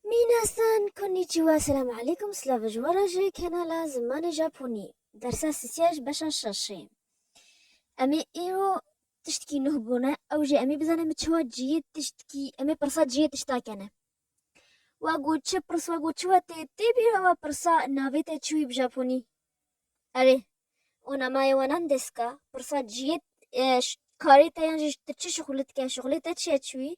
Minasan, Konnichiwa, Selam Aleykum, Slava ji we re ji kanala Zimanê Japonî, dersa sisiya ji beşa şeşê. Em ê îro tiştekî nuh bûne, ew jî em ê bizanin bi çiwa ciyê tiştekî, em ê pirsa ciyê tişta kene. Wa got çi pirs, wa got çiwa tê tê bîr e wa pirsa navê te çi wî bi Japonî? Erê, onamaye wa nan desu ka? Pirsa ciyê karê te yan jî tu çi şixulê dike, şixulê te çi ye çi wî?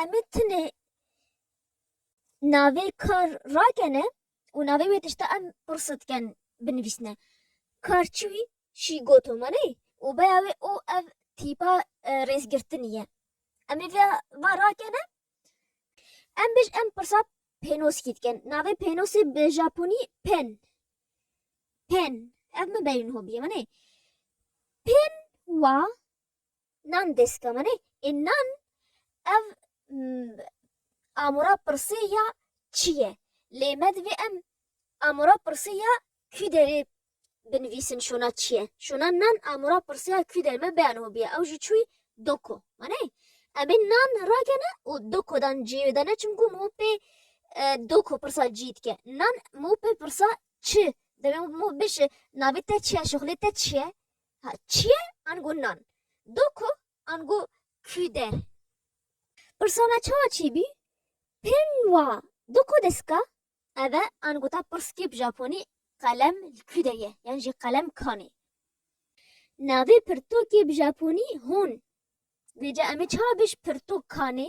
Em ê tunê navê kar rakene û navê wê tişta em pirsa dikin binivîsne. Kar çi wî? Şî goto me ney û beya wê û ev tîpa rêzgirtinî ye. Em ê vê va rakene. Em bêj em pirsa pênoskî dikin. Navê pênosê bi japonî pen. Pen. Ev min berîn hobiyê me ney. Pen wa Nan destkemanê ê nan ev amûra pirsê ya çi ye? Lê me divê em amûra pirsê ya kû derê binivîsin şona çi ye? Şona nan amûra pirsê ya kû derê me bêyane hû bîye. Ew jî çû yî doko. Wanê? Em ê nan rakene û doko dan ciyê wê dane çimkû mû pê doko pirsa ciyî dike. Nan mû pê pirsa çi? Divê mû bişê navê te çi ye, şixulê te çi ye? Ha çiye ango nan? Do ku ango kü der? Pirsa me çawa çi bü? Pin wa do ku deska? Eve ango ta pirskî bi japonî qelem li kü de ye yan jî qelem kanê. Navê pirtokê bi japonî hon. Lê ca em ê çawa bêj pirtok kanê?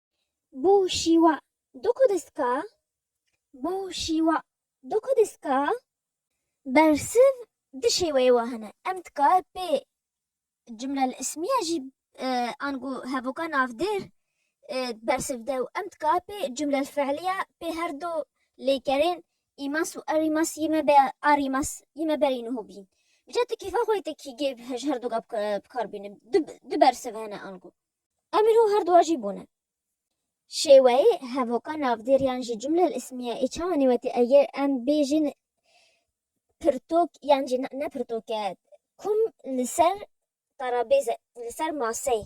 Bo şîwa do ku diska Bo şîwa do ku diska Bersiv di şêweyê wa hene. Em dikare pê cumlelîsmiye jî ango hevoka navdêr bersiv de û em dikare pê cumlelfîlîye pê her do lêkerên îmas û erîmas yê me be arîmas yê me berî niho bîn. Îca tu kêfa xwe yê te kî gê ji her do ge bikar bîne. Du bersiv hene ango. Emîr û herdu jî bûne. Şêweyê hevoka navdêriyan jî cumle li îsmiye ê çawa nêwetî eger em bêjin pirtûk yan jî ne pirtûk e kum li ser tarabêze li ser maseyê.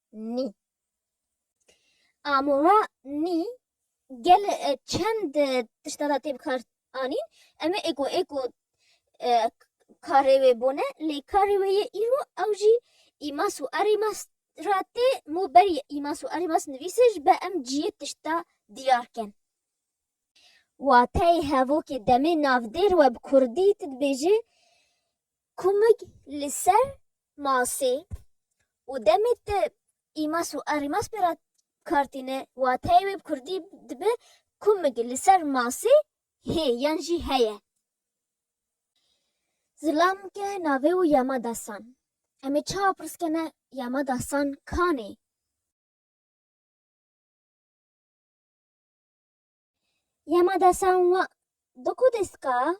nî. Amora nî gel e, çend e, tişta da tê bikar anîn. Em ê êko êko e, karê wê bone lê karê wê yê îro ew jî îmas û erîmas ra tê mû berî îmas û erîmas nivîsê ji be em ciyê tişta diyar ken. Wateyê hevokê demê navdêr we bi kurdî ti dibêjê Kumik li ser masê û demê te îmas û erîmas pê re kar tîne, wateyê wê bi kurdî dibe kumik li ser masê hê yan jî heye. Zilam ke navê û yama destan. Em ê çawa pirs kene yama destan kanê? Yamada Sanwa Doko Deska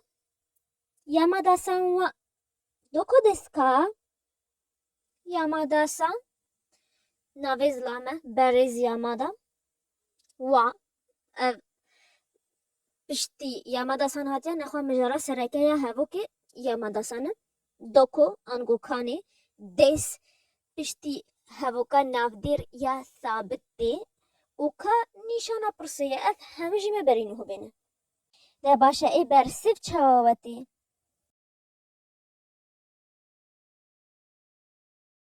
Yamada Sanwa Doko Deska Yamada San Navê zila me Berêz Yamada Wa ev piştî Yamada San hatiye nexwe mijara serekeya hevokê Yamada San e. Doko Angokanê dest piştî hevoka navdêr ya Sabit tê û ka nîşana pirsê ye ev hemû jî me berî nuh bêne. Deh baş e ê bersiv çawa wetê?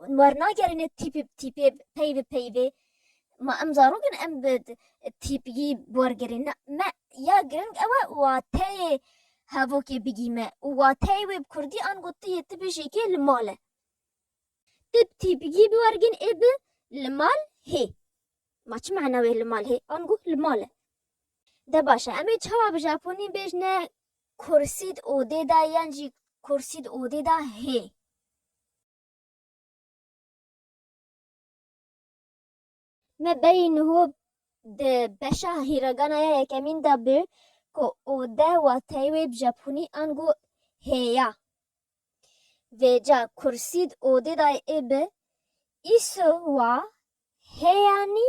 Hûn wernagerîne tîp bi tîpê, pey bi peyvê. Ma em zarok in em bi tîpgî bi wer gerîn. Na, me ya giring ew e wateyê hevokê bigîme û wateyê wê bi kurdî ango tu yê tibêjekê li mal e. Tu bi tîpgî bi wer gin ê bi li mal hê. Ma çi mana wê li mal hê? Ango li mal e. De baş e em ê çawa bi japonî bêjne kursî di odê de yan jî kursî di odê de hê? Me berî niho di beşa hîragana ya yekemîn de bû ku ode wateyê wê bi japonî ango hê ya. Vêca kursî di odê dayê ê bi îso wa hê yanî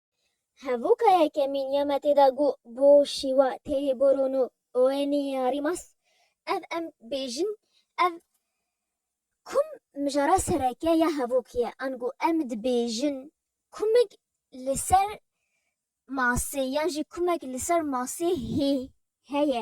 Hevoka yekemîn ya me tê de got bo şîwa têyê boron û oêniyê herî mas. Ev em bêjin ev kum mijara sereke ya hevok ye. Ango em dibêjin kumik li ser masê yan jî kumek li ser masê hê heye.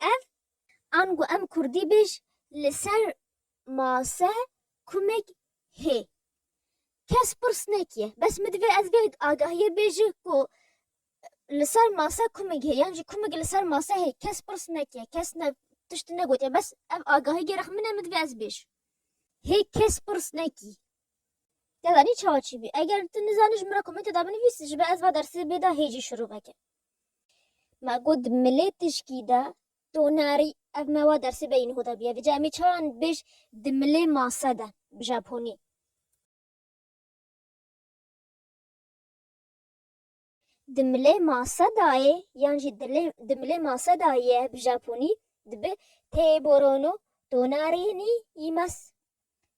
Ev, ango em kurdî bêj li ser mase kumek hê. Kes pirs nekiye. Bes min divê ez vê agahiyê bêji ku li ser mase kumek hê yan jî kumek li ser mase hê. Kes pirs nekiye. Kes ne tiştî negotiye. Bes ev agahî gerek min e min divê ez bêj. Hê kes pirs nekî. Te zanî çawa çî bî. Eger tu nizanî ji min re komentê de binivîs ji ber ez va dersê bêda hê jî şirûveke. Ma got milê tişkî de to narî ev me wa dersê beyîn ho de bîye vîca emî çawa nibêj di milê mase de bi japonî. Di milê mase de ye yan jî dilê di milê mase de ye bi japonî dibe têborono to narî nî yî mes